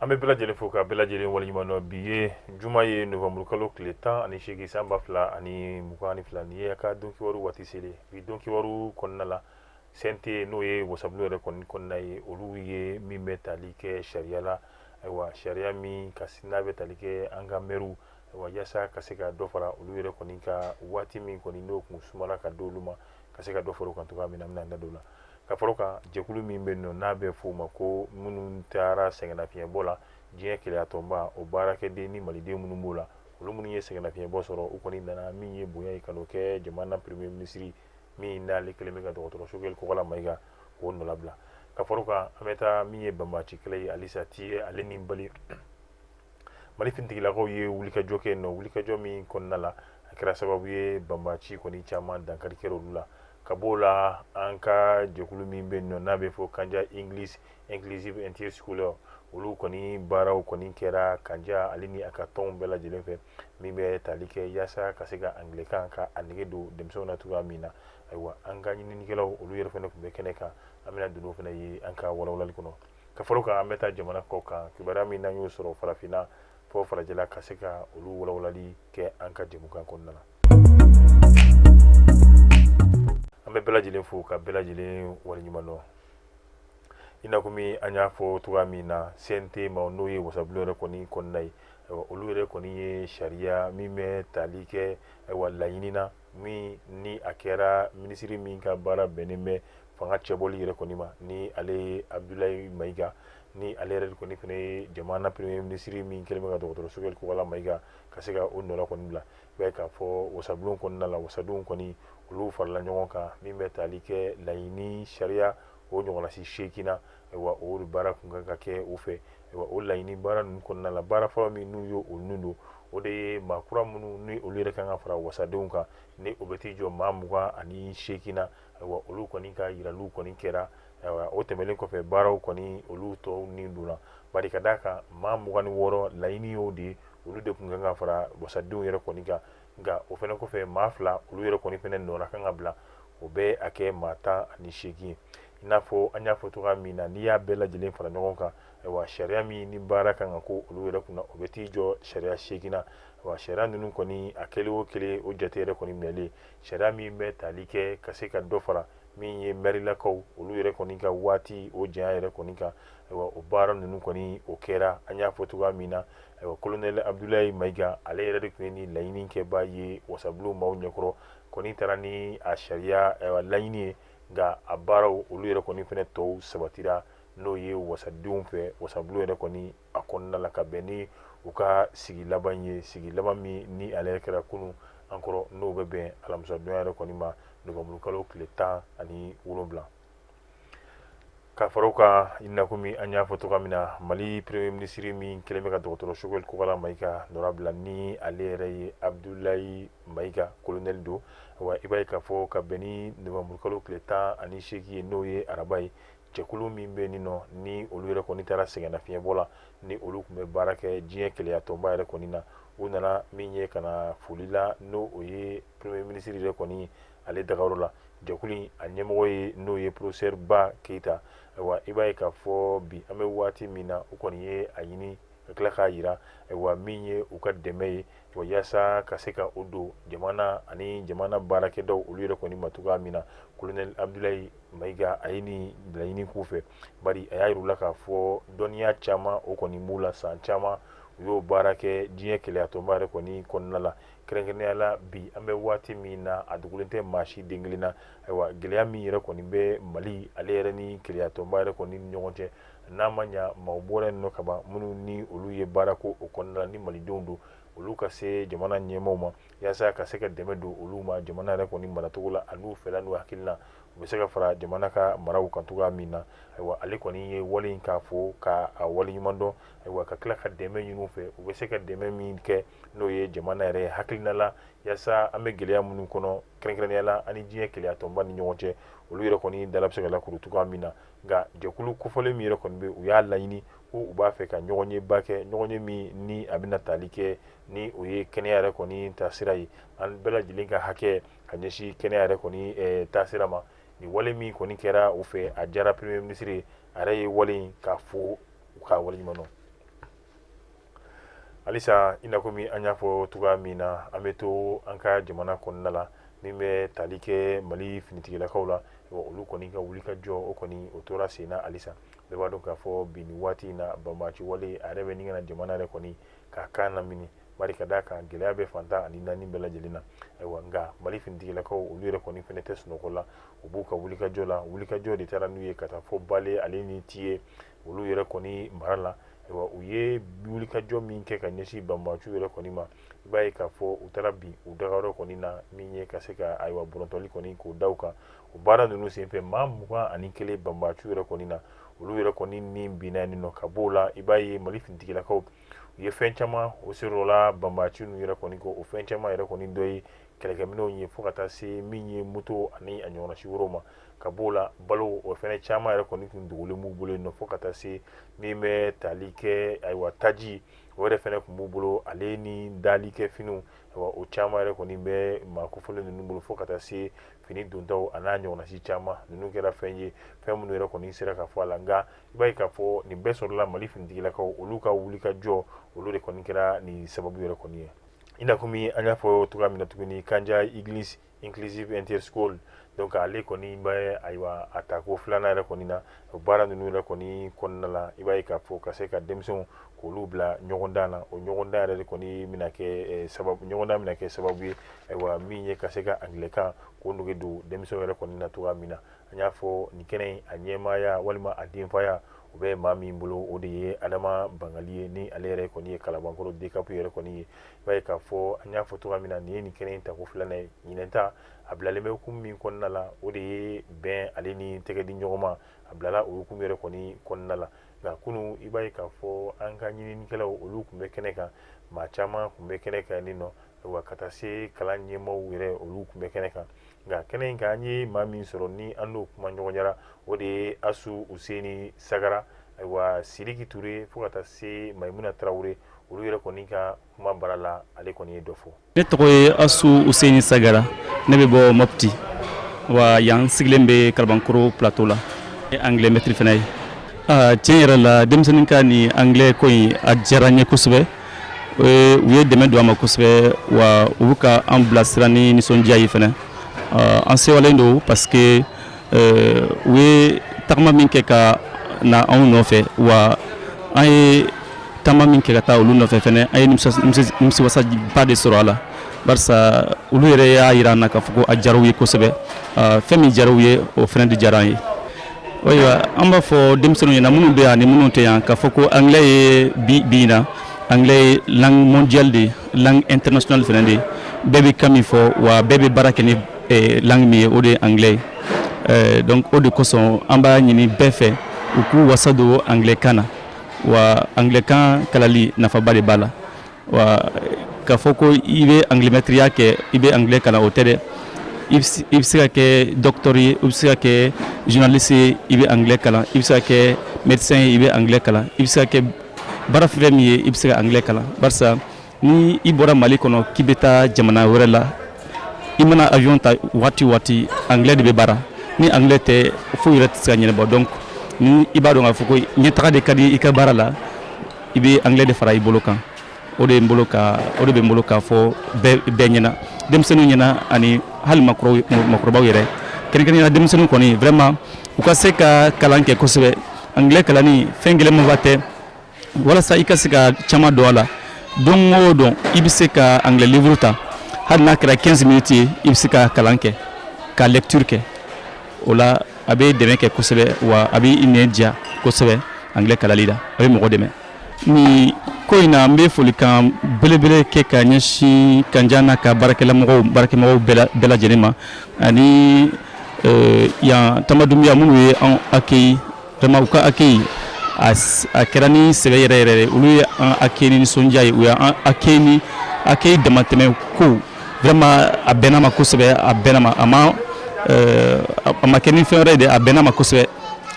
An bɛ bɛɛ lajɛlen fo ka bɛɛ lajɛlen waleɲuman dɔn bi ye juma ye novembre kalo tile tan ani seegin san ba fila ani mugan ani fila nin ye a ka don kibaru waati selen bi don kibaru kɔnɔna la CNT n'o ye wasabulon yɛrɛ kɔni kɔnɔna ye olu ye min bɛ tali kɛ sariya la ayiwa sariya min ka n'a bɛ tali kɛ an ka mɛriw wa yaasa ka se ka dɔ fara olu yɛrɛ kɔni ka waati min kɔni n'o tun sumala ka di olu ma ka se ka dɔ fara o kan cogoya min na an bɛna an da don o la ka fara o kan jɛkulu min bɛ yen nɔ n'a bɛ f'o ma ko minnu taara sɛgɛnnafiɲɛbɔ la diɲɛ kelenyatɔnba o baarakɛden ni maliden minnu b'o la olu minnu ye sɛgɛnnafiɲɛbɔ sɔrɔ u kɔni nana min ye bonya ye ka n'o kɛ jamana premier minisiri min n'ale kɛlen bɛ ka dɔgɔtɔrɔ sogɛli kɔkala mayiga k'o nɔla bila ka fara o kan an bɛ taa min ye banbaci kɛlɛ ye alisa ti ale ni mali mali finitigilakaw ye wulikajɔ kɛ yen nɔ wulikajɔ min kɔnɔna la a kɛra sababu ye banbaci kɔni caman dankari kɛra olu la ka b'o la an ka jɛkulu min bɛ yen nɔ n'a bɛ fɔ kanja english inclusive inter scholar olu kɔni baaraw kɔni kɛra kanja ale ni a ka tɔnw bɛɛ lajɛlen fɛ min bɛ tali kɛ yaasa ka se ka angilɛkan ka a nege don denmisɛnw na cogoya min na ayiwa an ka ɲininikɛlaw olu yɛrɛ fana tun bɛ kɛnɛ kan an bɛna don o fana ye an ka walawalali kɔnɔ ka fara o kan an bɛ taa jamana kɔ kan kibaruya min n'an y'o sɔrɔ farafinna fo farajɛla ka se ka olu walawalali kɛ an ka jɛmukan kɔnɔna na an bɛ bɛɛ lajɛlen fo ka bɛɛ lajɛlen waleɲuman dɔn i n'a komi an y'a fɔ cogoya min na CNT ma n'o ye wasabulon yɛrɛ kɔni kɔnɔna ye ayiwa olu yɛrɛ kɔni ye sariya min bɛ tali kɛ ayiwa laɲini na min ni a kɛra minisiri min ka baara bɛnnen bɛ fanga cɛbɔli yɛrɛ kɔni ma ni ale ye abudulayi mayiga ni ale yɛrɛ kɔni fana ye jamana premier minisiri min kɛlen bɛ ka dɔgɔtɔrɔ sogɛli kɔkala mayiga ka se ka o nɔla kɔni bila i b'a ye k'a fɔ wasabulon kɔnɔna la wasadenw kɔni olu farala ɲɔgɔn kan min bɛ tali kɛ laɲini sariya o ɲɔgɔnnasi seeginna ayiwa o baara tun kan ka kɛ u fɛ ayiwa o laɲini baara ninnu kɔnɔna la baara fɔlɔ min n'u ye olu don o de ye maa kura minnu ni olu yɛrɛ kan ka fara wasadenw kan ni o bɛ t'i jɔ maa mugan ani seeginna ayiwa olu kɔni ka yiraliw kɔni kɛra ayiwa o tɛmɛnen kɔfɛ baaraw kɔni olu tɔw ni donna bari ka d'a kan maa mugan ni wɔɔrɔ laɲini y'o de ye olu de tun kan ka fara wasadenw yɛrɛ kɔni kan nka o fana kɔfɛ maa fila olu yɛrɛ kɔni fana nɔra kan ka bila o bɛ a kɛ maa tan ani seegin ye i n'a fɔ an y'a fɔ cogoya min na n'i y'a bɛɛ lajɛlen fara ɲɔgɔn kan ayiwa sariya min ni baara kan ka kɛ olu yɛrɛ kunna o bɛ t'i jɔ sariya seeginna ayiwa sariya ninnu kɔni a kelen o kelen o jate yɛrɛ kɔni minɛlen sariya min bɛ tali kɛ ka se ka dɔ fara min ye mɛrilakaw olu yɛrɛ kɔni ka waati o janya yɛrɛ kɔni kan ayiwa o baara ninnu kɔni o kɛra an y'a fɔ cogoya min na ayiwa kolonɛli abudulayi mayiga ale yɛrɛ de tun ye ni laɲini kɛbaa ye wasabulon maaw ɲɛkɔrɔ kɔni taara ni a sariya laɲini ye nka a baaraw olu yɛrɛ kɔni fana tɔw sabatira n'o ye wasadenw fɛ wasabulon yɛrɛ kɔni a kɔnɔna la ka bɛn ni u ka sigi laban ye sigi laban min ni ale yɛrɛ kɛra kunun an kɔrɔ n'o bɛ bɛn alamisadonya yɛrɛ kɔni ma nowanburukalo tile tan ani wolonwula ka fara o kan i n'a komi an y'a fɔ cogoya min na mali premier ministre min kɛlen bɛ ka dɔgɔtɔrɔ sogɛli kokala mayiga nɔra bila ni ale yɛrɛ ye abudulayi mayiga kolonɛli don wa i b'a ye k'a fɔ ka bɛn ni nowanburukalo tile tan ani seegin ye n'o ye araba ye jɛkulu min bɛ nin nɔ ni olu yɛrɛ kɔni taara sɛgɛnnafiɲɛbɔ la ni olu tun bɛ baara kɛ diɲɛ kelenyatɔnba yɛrɛ kɔni na u nana min ye ka na foli la n'o ye premier ministre yɛrɛ kɔni ale dagayɔrɔ la jɛkulu in a ɲɛmɔgɔ ye n'o ye porofesɛri ba keyita ayiwa i b'a ye k'a fɔ bi an bɛ waati min na u kɔni ye a ɲini ka tila k'a jira ayiwa min ye u ka dɛmɛ ye wa yaasa ka se ka o don jamana ani jamana baarakɛdaw olu yɛrɛ kɔni ma cogoya min na kolonɛli abudulayi mayiga a ye nin laɲini k'u fɛ bari a y'a yir'u la k'a fɔ dɔnniya caman o kɔni b'u la san caman u y'o baara kɛ diɲɛ kelenyatɔnba yɛrɛ kɔni kɔnɔna la kɛrɛnkɛrɛnnenya la bi an bɛ waati min na a dogolen tɛ maa si den kelen na ayiwa gɛlɛya min yɛrɛ kɔni bɛ mali ale yɛrɛ ni kelenyatɔnba yɛrɛ kɔni ɲɔgɔn cɛ n'a ma ɲa maaw bɔra yen nɔ ka ban minnu ni olu ye baara k'o kɔnɔna la ni malidenw don olu ka se jamana ɲɛmaaw ma yaasa ka se ka dɛmɛ don olu ma jamana yɛrɛ kɔni maracogo la a n'u fɛla n'u hakilina u bɛ se ka fara jamana ka maraw kan cogoya min na ayiwa ale kɔni ye wale in k'a fo ka a wale ɲuman dɔn ayiwa ka tila ka dɛmɛ ɲin'u fɛ u bɛ se ka dɛmɛ min kɛ n'o ye jamana yɛrɛ hakilina la yaasa an bɛ gɛlɛya minnu kɔnɔ kɛrɛnkɛrɛnnenya la ani diɲɛ kelenyatɔnba ni ɲɔgɔn cɛ olu yɛrɛ kɔni dala bɛ se ka lakuru cogoya min na nka jɛkulu kofɔlen min yɛrɛ kɔni bɛ u y'a laɲini ko u b'a fɛ ka ɲɔgɔnyeba kɛ ɲɔgɔnye min ni a bɛna taali kɛ ni o ye kɛnɛya yɛrɛ kɔni taasira ye an bɛɛ lajɛlen ka hakɛ ka ɲɛsin kɛnɛya yɛrɛ kɔni eh, taasira ma nin wale min kɔni kɛra u fɛ a diyara premier ministre ye a yɛrɛ ye wale in ka fo u ka wale ɲuman halisa i n'a komi an y'a fɔ cogoya min na an bɛ to an ka jamana kɔnɔna la min bɛ tali kɛ mali finitigilakaw la olu kɔni ka wulikajɔ o kɔni o tora sen na halisa bɛɛ b'a dɔn k'a fɔ bi nin waati in na banbaci wale a yɛrɛ bɛ ɲini ka na jamana yɛrɛ kɔni ka kan lamini bari ka d'a kan gɛlɛya bɛ fan tan ani naani bɛɛ lajɛlen na ayiwa nka mali finitigilakaw olu yɛrɛ kɔni fɛnɛ tɛ sunɔgɔ la u b'u ka wulikajɔ la wulikajɔ de taara n'u ye ka taa fo bale ale ni tiye olu yɛrɛ kɔni mara la u ye wulikajɔ min kɛ ka ɲɛsin banbaciw yɛrɛ kɔni ma i b'a ye k'a fɔ u taara bin u dagayɔrɔ kɔni na min ye ka se ka ayiwa bɔrɔntɔli kɔni k'o da u kan o baara ninnu senfɛ maa mugan ani kelen banbaciw yɛrɛ kɔni na olu yɛrɛ kɔni ni binna yen nɔ ka b'o la i b'a ye mali finitigilakaw u ye fɛn caman o sɔrɔla banbaci ninnu yɛrɛ kɔni kɔ o fɛn caman yɛrɛ kɔni dɔ ye kɛlɛkɛminɛnw ye fo ka taa se min ye moto ani a ɲɔgɔnna si wɛrɛw ma ka b'o la balo o fana caman yɛrɛ kɔni tun dogolen b'u bolo yen nɔ fo ka taa se min bɛ tali kɛ ayiwa taji o yɛrɛ fana tun b'u bolo ale ni dali kɛ finiw o caman yɛrɛ kɔni bɛ maa kofɔlen ninnu bolo fo ka taa se fini dontaw a n'a ɲɔgɔnna si caman ninnu kɛra fɛn ye fɛn minnu yɛrɛ kɔni sera ka fɔ a la nka i b'a ye k'a fɔ nin bɛɛ sɔrɔla mali finitigilakaw olu ka wulikajɔ olu de kɔni kɛra nin sababu yɛrɛ kɔni ye i n'a komi an y'a fɔ cogoya min na tuguni kanja english inclusive interschool donc ale kɔni bɛ ayiwa a tako filanan yɛrɛ kɔni na o baara ninnu yɛrɛ kɔni kɔnɔna la i b'a ye k'a fɔ ka se ka denmisɛnw k'olu bila ɲɔgɔndan na o ɲɔgɔndan yɛrɛ de kɔni bɛna kɛ eh, sababu ɲɔgɔndan bɛna kɛ sababu ye ayiwa min ye ka se ka angilɛkan k'o nege don denmisɛnw yɛrɛ kɔni na cogoya min na an y'a fɔ nin kɛnɛ in a ɲɛmaaya walima a denfaya o bɛ maa min bolo o de ye adama bangali ye ni ale yɛrɛ kɔni ye kalabankɔrɔ dcap yɛrɛ kɔni ye i b'a ye k'a fɔ an y'a fɔ cogoya min na nin ye nin kɛnɛ in tako filanan ye ɲinan ta a bilalen bɛ hukumu min kɔnɔna la o de ye bɛn ale ni tɛgɛ di ɲɔgɔn ma a bilala o hukumu yɛrɛ kɔni kɔnɔna la nka kunun i b'a ye k'a fɔ an ka ɲininikɛlaw olu tun bɛ kɛnɛ kan maa caman tun bɛ kɛnɛ kan nin nɔ wa ka taa se kalan ɲɛmaaw yɛrɛ olu tun bɛ kɛnɛ kan nka kɛnɛ in kan an ye maa min sɔrɔ ni an n'o kumaɲɔgɔnyara o de ye asu useni sagara ayiwa siriki ture fo ka taa se mayimuna tarawele olu yɛrɛ kɔni ka kuma bara la ale kɔni ye dɔ fɔ ne tɔgɔ ye asu useni sagara ne bɛ bɔ mopti wa yan sigilen bɛ kalabankoro plateau la ne anglais maître fana ye tiɲɛ yɛrɛ la denmisɛnninw ka nin anglais ko in a diyara n ye kosɛbɛ u ye dɛmɛ don a ma kosɛbɛ wa u bɛ ka an bilasira ni nisɔndiya ye fana an sewalen don parce que u ye tagama min kɛ ka na anw nɔfɛ wa an ye taama min kɛ ka taa olu nɔfɛ fana an ye nimisiwasaba de sɔrɔ a la barisa olu yɛrɛ y'a yira an na k'a fɔ ko a diyara u ye kosɛbɛ fɛn min diyara u ye o fana de diyara an ye Ayiwa an b'a fɔ denmisɛnninw ɲɛna minnu bɛ yan ani minnu tɛ yan k'a fɔ ko anglais ye bi bi in na anglais ye langue mondiale de ye langue internationale fana de ye bɛɛ bɛ kan min fɔ wa bɛɛ bɛ baara kɛ ni langue min ye o de ye anglais ye donc o de kosɔn an b'a ɲini bɛɛ fɛ u k'u wasa don anglais kan na wa anglais kan kalali nafaba de b'a la wa k'a fɔ ko i bɛ anglais mɛtiriya kɛ i bɛ anglais kalan o tɛ dɛ i bɛ se ka kɛ docteur ye i bɛ se ka kɛ journaliste ye i bɛ anglais kalan i bɛ se ka kɛ médecin ye i bɛ anglais kalan i bɛ se ka kɛ baara fɛn min ye i bɛ se ka anglais kalan barisa ni i bɔra mali kɔnɔ k'i bɛ taa jamana wɛrɛ la i mana avion ta waati o waati anglais de bɛ baara ni anglais tɛ foyi yɛrɛ tɛ se ka ɲɛnabɔ donc ni i b'a dɔn k'a fɔ ko ɲɛtaga de ka di i ka baara la i bɛ anglais de fara i bolo kan o de bɛ n bolo k'a fɔ bɛɛ ɲɛna denmisɛnninw ɲɛna ani hali makɔrɔbaw yɛrɛ kɛrɛnkɛrɛnnenya la denmisɛnninw kɔni vraiment u ka se ka kalan kɛ kosɛbɛ anglais kalanni fɛn gɛlɛnmanba tɛ walasa i ka se ka caman dɔn a la don o don i bɛ se ka anglais livre ta hali n'a kɛra 15 minutes ye i bɛ se ka kalan kɛ ka lecture kɛ o la a bɛ dɛmɛ kɛ kosɛbɛ wa a bɛ i nɛn diya kosɛbɛ anglais kalali la a bɛ mɔgɔ dɛmɛ ni ko in na n bɛ folikan belebele kɛ ka ɲɛsin Kanja n'a ka baarakɛmɔgɔ baarakɛmɔgɔw bɛɛ lajɛlen ma ani yan Tamba Dumbuya minnu ye an accueilli vraiment u ka accueil a kɛra ni sɛbɛ yɛrɛ yɛrɛ olu ye an accueilli ni nisɔndiya ye u y'an accueilli accueil damatɛmɛ ko vraiment a bɛnna an ma kosɛbɛ a bɛnna an ma a ma kɛ ni fɛn wɛrɛ ye dɛ a bɛnna an ma kosɛbɛ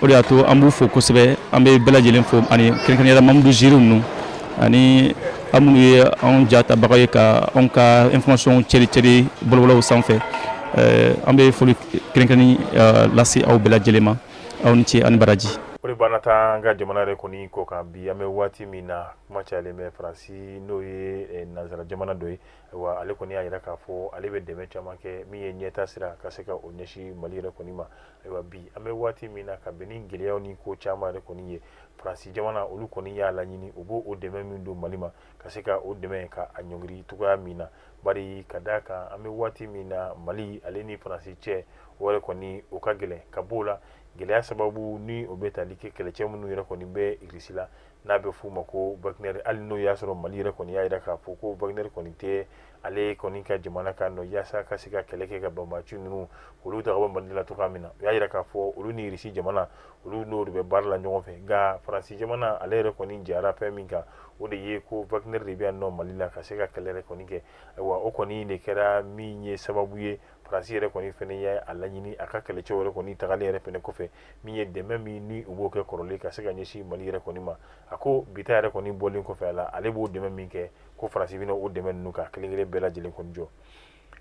o de y'a to an b'u fo kosɛbɛ an bɛ bɛɛ lajɛlen fo ani kɛrɛnkɛrɛnnenya la mamudu ziiri ninnu ani aw minnu ye anw jatabaga ye ka anw ka information cɛricɛri bɔlɔbɔlɔw sanfɛ an bɛ foli kɛrɛnkɛrɛnnen lase aw bɛɛ lajɛlen ma aw ni ce ani baraji o la an bɛna taa an ka jamana yɛrɛ kɔni kɔ kan bi an bɛ waati min na kuma cayalen bɛ faransi n'o ye nansara jamana dɔ ye wa ale kɔni y'a jira k'a fɔ ale bɛ dɛmɛ caman kɛ min ye ɲɛtaa sira ka se ka o ɲɛsin mali yɛrɛ kɔni ma ayiwa bi an bɛ waati min na ka bɛn ni gɛlɛyaw ni ko caman yɛrɛ kɔni ye faransi jamana olu kɔni y'a laɲini u b'o dɛmɛ min don mali ma ka se ka o dɛmɛ ka a ɲɔngiri cogoya min na bari ka d' a kan an bɛ waati min na mali ale ni faransi cɛ o yɛrɛ kɔni o ka gɛlɛn ka bɔ o la gɛlɛya sababu ni o bɛ tali kɛ kɛlɛcɛ minnu yɛrɛ kɔni bɛ irisi la n'a bɛ f'u ma ko wagner hali n'o y'a sɔrɔ mali yɛrɛ kɔni y'a jira k'a fɔ ko wagner kɔni tɛ ale kɔni ka jamana kan nɔ yaasa ka se ka kɛlɛ kɛ ka banbaaci ninnu olu ta ka bɔ mali la cogoya min na u y'a jira k'a fɔ olu ni irisi jamana olu n'o de bɛ baara la ɲɔgɔn fɛ nka faransi jamana ale yɛrɛ kɔni jara fɛn min kan o de ye ko wagner de bɛ yan nɔ mali la ka se ka kɛlɛ yɛrɛ kɔni kɛ ayiwa o kɔni de kɛra min ye sababu ye faransi yɛrɛ kɔni fɛnɛ ye a laɲini a ka kɛlɛcɛ yɛrɛ kɔni tagalen yɛrɛ fɛnɛ kɔfɛ min ye dɛmɛ min ni u b'o kɛ kɔrɔlen ka se ka ɲɛsin mali yɛrɛ kɔni ma a ko bita yɛrɛ kɔni bɔlen kɔfɛ a la ale b'o dɛmɛ min kɛ ko faransi bɛna o dɛmɛ ninnu ka kelen kelen bɛɛ lajɛlen kɔni jɔ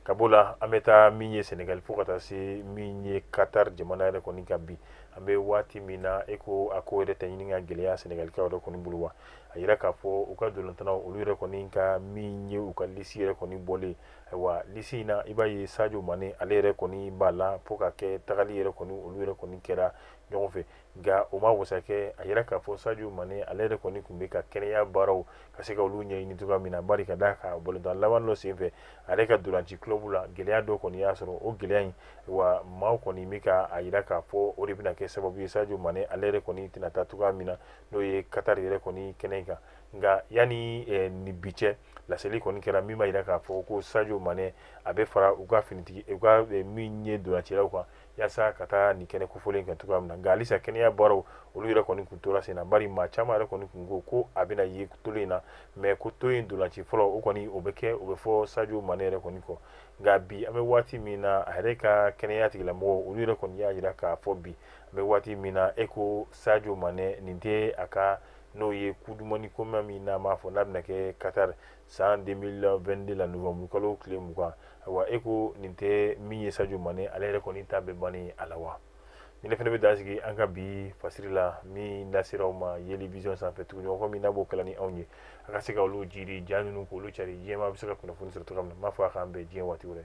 ka b'o la an bɛ taa min ye sɛnɛgali fo ka taa se min ye katari jamana yɛrɛ kɔni kan bi an bɛ waati min na e ko a ko yɛrɛ tɛ ɲini ka gɛlɛya sɛnɛgalikaw yɛrɛ kɔni bolo wa a yira k'a fɔ u ka dolantannaw olu yɛrɛ kɔni ka min ye u ka lisi yɛrɛ kɔni bɔlen ayiwa lisi in na i b'a ye sajo mane ale yɛrɛ kɔni b'a la fo ka kɛ tagali yɛrɛ kɔni olu yɛrɛ kɔni kɛra ɲɔgɔn fɛ nka o ma wasa kɛ a yira k'a fɔ Sadio Mane ale yɛrɛ kɔni tun bɛ ka kɛnɛya baaraw ka se ka olu ɲɛɲini cogoya min na bari ka d'a kan balontan laban dɔ senfɛ ale ka dolanci club la gɛlɛya dɔ kɔni y'a sɔrɔ o gɛlɛya in wa maaw kɔni bɛ ka a yira k'a fɔ o de bɛna kɛ sababu ye Sadio Mane ale yɛrɛ kɔni tɛna taa cogoya min na n'o ye Qatar yɛrɛ kɔni kɛnɛ kan nka yanni eh, ni bi cɛ laseli kɔni kɛra min b'a jira k'a fɔ ko Sadio Mane a bɛ fara u ka finitigi u ka eh, min ye dolancilaw kan yaasa ka taa nin kɛnɛ kofɔlen kɛ cogoya min na nka halisa kɛnɛya baaraw olu yɛrɛ kɔni kun tora sen na bari maa caman yɛrɛ kɔni kun ko ko a bɛna ye tolo in na mɛ ko tolo in dolanci fɔlɔ o kɔni o bɛ kɛ o bɛ fɔ sajo mane yɛrɛ kɔni kɔ nka bi an bɛ waati min na a yɛrɛ ka kɛnɛya tigilamɔgɔ olu yɛrɛ kɔni y'a jira k'a fɔ bi an bɛ waati min na e ko sajo mane nin tɛ a ka n'o ye coupe du monde koma min n'a m'a fɔ n'a bɛna kɛ katari san 2022 la novembre kalo tile mugan ayiwa e ko nin tɛ min ye sajo mane ale yɛrɛ kɔni ta bɛ bani a la wa ni ne fana bɛ dan sigi an ka bi fasiri la min lasera aw ma yeli vision sanfɛ tuguɲɔgɔnkɔ min n'a b'o kala ni anw ye a ka se ka olu jiri ja ninnu k'olu cari diɲɛmaa bɛ se ka kunnafoni sɔrɔ cogoya min na n b'a fɔ a k'an bɛn diɲɛ waati wɛrɛ